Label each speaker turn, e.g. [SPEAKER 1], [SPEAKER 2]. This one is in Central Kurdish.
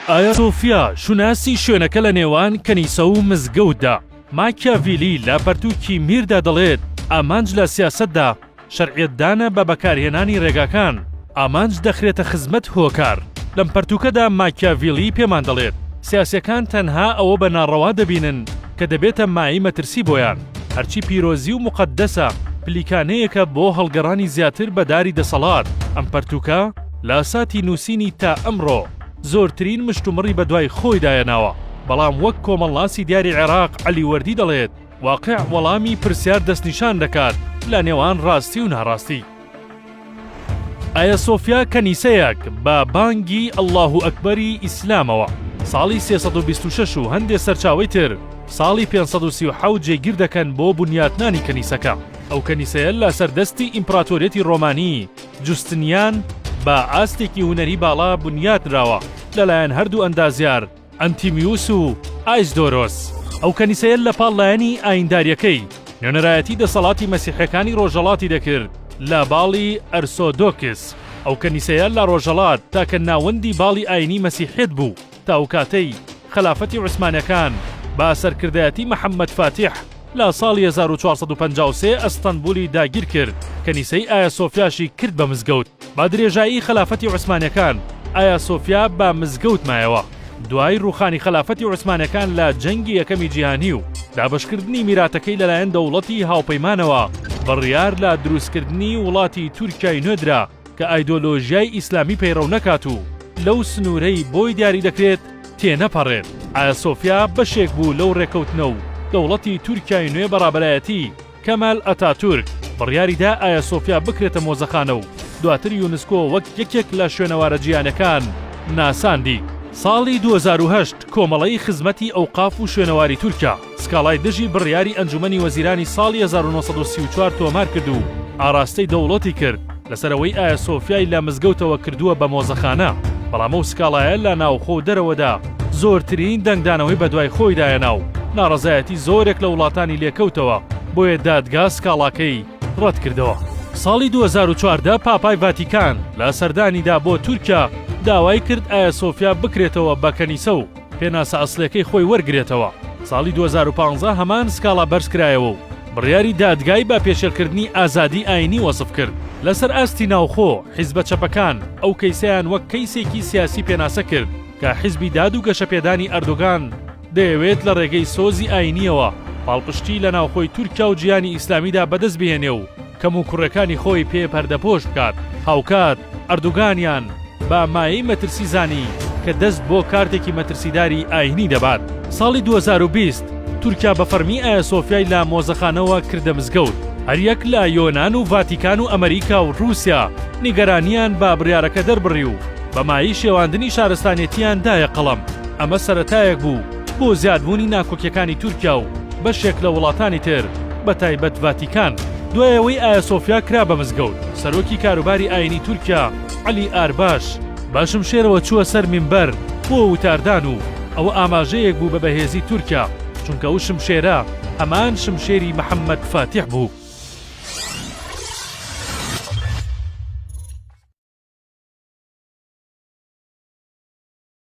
[SPEAKER 1] ئایا سۆفیا شوناسی شوێنەکە لە نێوان کەنیسە و مزگەوتدا؟ ماکیاڤیلی لە پەرتووکی میردا دەڵێت، ئامانج لە سیاسەتدا شەرعیەتدانە بە بەکارهێنانی ڕێگاکان، ئامانج دەخرێتە خزمەت هۆکار. لەم پەرتووکەدا ماکیاڤیلی پێمان دەڵێت، سیاسیەکان تەنها ئەوە بە ناڕەوا دەبینن کە دەبێتە مایەی مەترسی بۆیان. هەرچی پیرۆزی و موقەدەسە، پلیکانەیەکە بۆ هەڵگەڕانی زیاتر بە داری دەسەڵات. ئەم پەرتووکە، لاساتی نووسینی تا ئەمڕۆ زۆرترین مشتومڕی بەدوای خۆیدایە ناوە، بەڵام وەک کۆمەڵناسی دیاری عێراق عەلی وەردی دەڵێت، واقیع وەڵامی پرسیار دەستنیشان دەکات لە نێوان ڕاستی و ناڕاستی. ئایەسۆفیا کەنیسەیەک بە بانگی اللە اکبری ئیسلامەوە ساڵی سێ سەد و بیست و شەش و هەندێ سەرچاوەی تر ساڵی پێنج سەد و سی و حەوت جێگیر دەکەن بۆ بنیاتنانی کەنیسەکە. ئەو کەنیسەیە لەسەر دەستی ئیمپڕاتۆریەتی ڕۆمانی، جوستنیان بە ئاستێکی هونەری باڵا بنیات نراوە لەلایەن هەردوو ئەندازیار ئەنتیمیوس و ئایسدۆرۆس. ئەو کەنیسەیە لەپاڵ لایەنی ئایینداریەکەی، نوێنەرایەتی دەسەڵاتی مەسیحیەکانی ڕۆژەڵاتی دەکرد لە باڵی ئەرسۆدۆکس. ئەو کەنیسەیە لە ڕۆژەڵات تاکە ناوەندی باڵی ئایینی مەسیحیەت بوو. تا ئەو کاتەی خەلافەتی عوسمانەکان بە سەرکردایەتی محمد فاتیح لە ساڵی هەزار و چوار سەد و پەنجا و سێ ئەستەنبولی داگیر کرد کەنیسەی ئایا سۆفیاشی کرد بە مزگەوت بە درێژایی خەلافەتی عوسمانەکان ئایا سۆفیا بە مزگەوت مایەوە دوای روخانی خەلافەتی عوسمانەکان لە جەنگی یەکەمی جیهانی و دابەشکردنی میراتەکەی لەلایەن دەوڵەتی هاوپەیمانەوە بڕیار لە دروستکردنی وڵاتی تورکیای نوێ درا کە ئایدۆلۆژیای ئیسلامی پەیڕەو نەکات و لەو سنوورەی بۆی دیاری دەکرێت تێنەپەڕێت. ئایاسۆفیا بەشێک بوو لەو ڕێکەوتنە و دەوڵەتی تورکیای نوێ بە ڕابەرایەتی کەمال ئەتاتورک بڕیاری دا ئایاسۆفیا بکرێتە مۆزەخانە و دواتر یونسکۆ وەک یەکێک لە شوێنەوارە جیهانیەکان ناساندی. ساڵی دوو هەزار و هەشت کۆمەڵەی خزمەتی ئەوقاف و شوێنەواری تورکیا، سکاڵای دژی بڕیاری ئەنجومەنی وەزیرانی ساڵی هەزار و نۆ سەد و سی و چوار تۆمار کرد و ئاراستەی دەوڵەتی کرد لەسەر ئەوەی ئایا سۆفیای لە مزگەوتەوە کردووە بە مۆزەخانە، بەڵام ئەو سکاڵایە لە ناوخۆ و دەرەوەدا زۆرترین دەنگدانەوەی بەدوای خۆیدا هێنا و ناڕەزایەتی زۆرێک لە وڵاتانی لێکەوتەوە، بۆیە دادگا سکاڵاکەی ڕەتکردەوە. ساڵی دوو هەزار و چواردە پاپای ڤاتیکان لە سەردانیدا بۆ تورکیا داوای کرد ئایا سۆفیا بکرێتەوە بە کەنیسە و، پێناسە ئەسڵیەکەی خۆی وەرگرێتەوە، ساڵی دوو هەزار و پازدە هەمان سکاڵا بەرزکرایەوە و بڕیاری دادگای بە پێشێلکردنی ئازادیی ئایینی وەسف کرد. لەسەر ئاستی ناوخۆ، حیزبە چەپەکان ئەو کەیسەیان وەک کەیسێکی سیاسی پێناسە کرد کە حیزبی داد و گەشەپێدانی ئەردۆگان دەیەوێت لە ڕێگەی سۆزی ئایینییەوە پاڵپشتیی لە ناوخۆی تورکیا و جیهانی ئیسلامیدا بەدەست بهێنێ و کەموکوڕیەکانی خۆی پێ پەردەپۆش بکات، هاوکات ئەردوگانیان بە مایەی مەترسی زانی کە دەست بۆ کارتێکی مەترسیداری ئاینی دەبات. ساڵی دوو هەزار و بیست تورکیا بە فەڕمی ئایا سۆفیای لە مۆزەخانەوە کردە مزگەوت. هەریەک لە یۆنان و ڤاتیکان و ئەمەریکا و ڕوسیا نیگەرانیان بە بڕیارەکە دەربڕی و بە مایەی شێواندنی شارستانێتیان دایە قەڵەم. ئەمە سەرەتایەک بوو. بۆ زیادبوونی ناکۆکیەکانی تورکیا و بەشێک لە وڵاتانی تر بە تایبەت ڤاتیکان، دوای ئەوەی ئایاسۆفیا کرا بە مزگەوت، سەرۆکی کاروباری ئاینی تورکیا عەلی ئارباش بە شمشێرەوە چووە سەر مینبەر بۆ وتاردان و ئەوە ئاماژەیەک بوو بە بەهێزی تورکیا، چونکە ئەو شمشێرە هەمان شمشێری محەمەد فاتیح بوو.